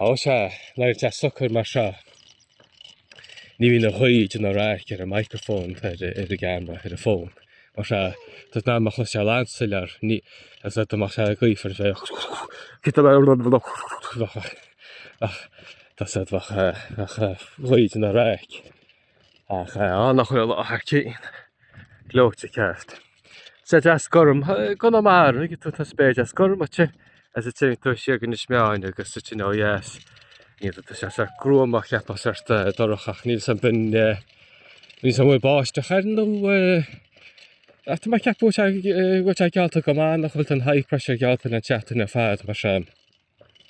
Ó sea, nuair atá sé socair mar seo, ní bhíonn an ghaoth ag déanamh raic ar an microphone, ar an gcamera, ar an bhfón. Mar seo, tá sibh in ann mé a chloisteáil an-soiléir, ní, is dá mbeadh sé gaofar, sea, ach, tá a fhios agat bheadh, bheadh an ghaoth ag déanamh raic. Ach á nach bhfuil sé thar cionn gleoite ceart. Sé deas gorm, gona mar, ag tú tá spéir deas gorm agat is téann tú siar go hInis Meáin agus sa tionn ó dheas. Ní, tá sé sórt gruama, cheapfá, sórt dorcha ach ní shin, b'in, ní shin go bhfuil báisteach air nó ach tá mé ag ceapadh go bhfuil sé geallta go maith nach bhfuil an high pressure geallta le teacht na fad mar sin.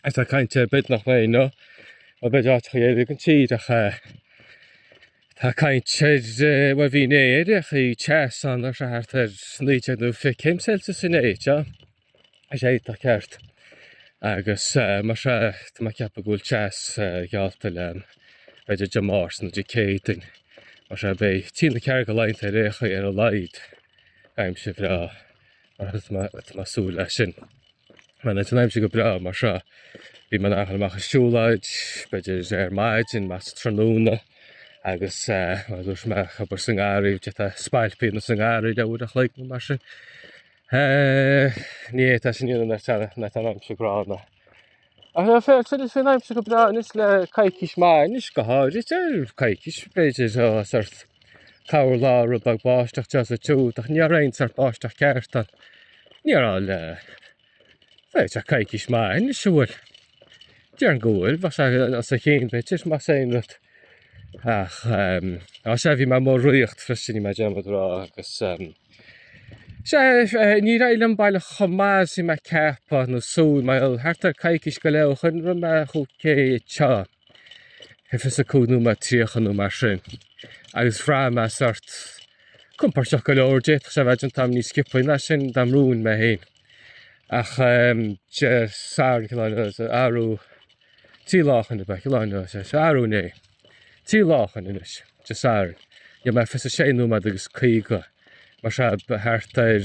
is tá caint ar bith nach mbeidh nó an mbeidh áiteachaí éirí ag an tír ach eh, tá caint ar eh, bhuel bhí inné ar áiteachaí teas ann ar sórt thart ar 19 nó 20 céim Celsius inné teo is é tá ceart agus eh, mar seo eh, tá mé ag ceapadh go bhfuil teas eh, geallta le b'fhéidir Dé Máirt nó Dé Céadaoin mar seo beidh trí nó ceathair de laethanta ar aon chaoi ar a laghad aimsir bhreá agus tá mé ag súil leis sin. Mar nuair atá an aimsir go breá mar seo bhí mé in ann a ghoil amach ag siúlóid, b'fhéidir ar maidin nó sa tráthnóna agus tosóidh mé ag obair sa ngarraí tá spailpíneacht sa ngarraí le uair an chloig nó mar sin. Ní é tá sin nuair atá an aimsir gránna. Ach ná féach, tá sé féin aimsir go breá anois le coicís maith anois go háirid, tá coicís b'fhéidir ó sórt corrlá rud beag báisteach anseo is ansiúd ach ní raibh aon sórt báisteach ceart ann ní raibh le b'fhéidir coicís maith anois a bhfuil déarfainn go bhfuil bá sé os a chionn b'fhéidir más aon rud ach ehm, á sé bhí mé amuigh ag ritheacht freisin rinne mé dearmad a rá agus ehm, Sea, níor éirigh liom baileach chomh maith is a bhí mé ag ceapadh nó ag súil, bhuel. Thart ar coicís go leith ó shoin rith mé 5K seo, ar 25 nóiméad 30 nó mar sin, agus bhraith mé sórt compordach go leor. D'fhéadfadh sé a bheith déanta agam níos sciobthaí ná sin dá mbrúinn mé féin. Ach, Dé Sathairn, cineál, arú, Trí lá ó shin, ab ea, arú inné. Trí lá ó shin anois, Dé Sathairn, rinne mé 26 nóiméad agus 50, mar seo thart ar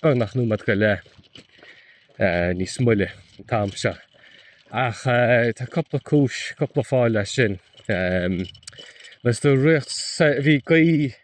beagnach nóiméad go leith níos moille an t-am seo. Ach tá cúpla cúis, cúpla fáth leis sin. Bhí gaoth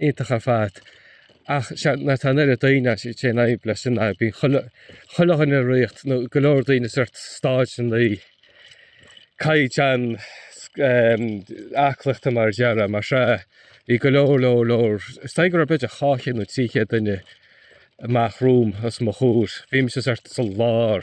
iontach ar fad ach sea nuair atá an oiread daoine as sé in aghaidh leis sin ná bíonn chuile chuile dhuine ag ritheacht nó go leor daoine sórt staid nó caighdeán aclaíochta mar a déarfá mar seo bhí go leor leor leor is dóigh go raibh b'fhéidir dhá chéad nó trí chéad duine amach romham os mo chomhair bhí mise sórt sa lár.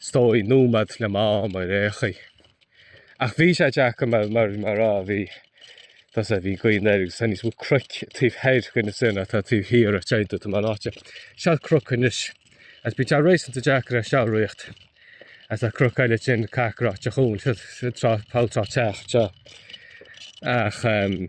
is dóigh nóiméad le m'am ar aon chaoi. Ach bhí sé deacair mar, mar, mar a bhí, does a bhí gaoth anoir agus tá níos mó cnoic taobh thoir go ná sin atá taobh thiar a teintú tá mar áite. Seal cnoc anois. Agus bíonn sé réasúnta deacair é sin a ritheacht. Agus tá cnoc eile ansin cac ráite chughainn, siad, siad trá, poll trá teach, seo. Ach, ehm.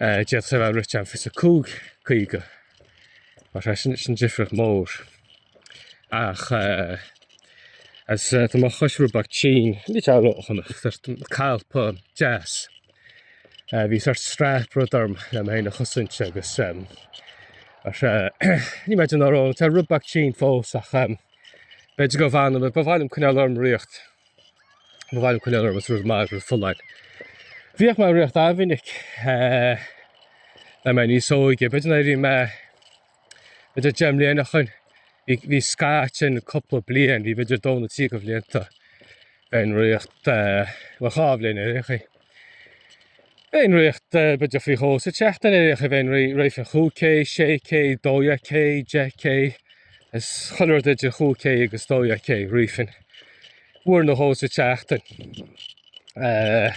D'fhéadfadh sé a bheith rite in 25 caoga, mar sin sin difríocht mhór. Ach agus tá mo chos rud beag tinn, ní teann rómhaith chonach, tar tú colpa deas. Bhí sórt strap rud orm le mé a chosaint agus ar ní maidin ná rón tá rud beag tinn fós ach b'fhéidir go bhfanam, ba mhaith liom coinneáil orm ag ritheacht. Ba mhaith liom coinneáil orm is rud maith is rud folláin. Bhíodh mé ag ritheacht an-mhinic le mé níos óige. B'fhéidir nuair a bhí mé b'fhéidir deich mbliana ó shin. Bhí, bhí scaitheamh ansin cúpla bliain, bhí b'fhéidir dó nó trí de bhlianta bhínn ag ritheacht, bhuel dhá bhliain ar aon chaoi. Bhínn ag ritheacht b'fhéidir faoi dhó sa tseachtain ar aon chaoi bhínn ag rith rithfinn cúig K, sé K, dó dhéag K, deich K, is chuile rud idir chúig K agus dó dhéag K rithfinn uair nó dhó sa tseachtain. Eh,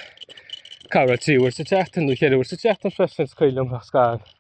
corruair trí uair sa tseachtain nó cheithre uair sa tseachtain freisin is cuimhin liom nach scaoil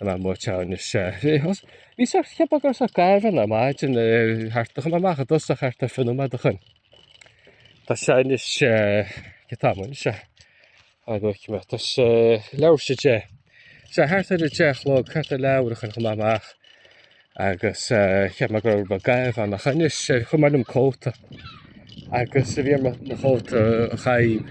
An am mo teann is ea. Bhí sórt cheap agur sa gaireann ar maidin thart a chun amach a dos a chart a fionn amad a chun. Tá sean is ea go tamán is ea. An go cimá tá sé leabhar si ea. Sé thart ar a deich a chlog thart a leabhar a chun chun amach agus cheap mé gur ba gaibh an a chun is sé chun mar an cóta agus a bhí mar na cóta a chaib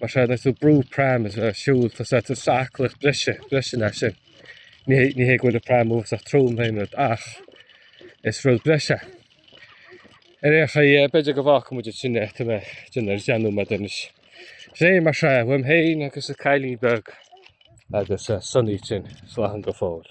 Mar sin, nuair atá tú ag brú pram is ag siúl, tá sé tú ag aclaíocht breise, breise leat sin. Ní hé, ní hé go bhfuil an pram uafásach trom ná aon rud ach is rud breise. Ar aon chaoi, b'fhéidir go bhfágfaidh muid ansin é, tá mé dinnéar a dhéanamh anois. So mar sin, uaim féin agus an cailín beag agus Sonny ansin, slán go fóill.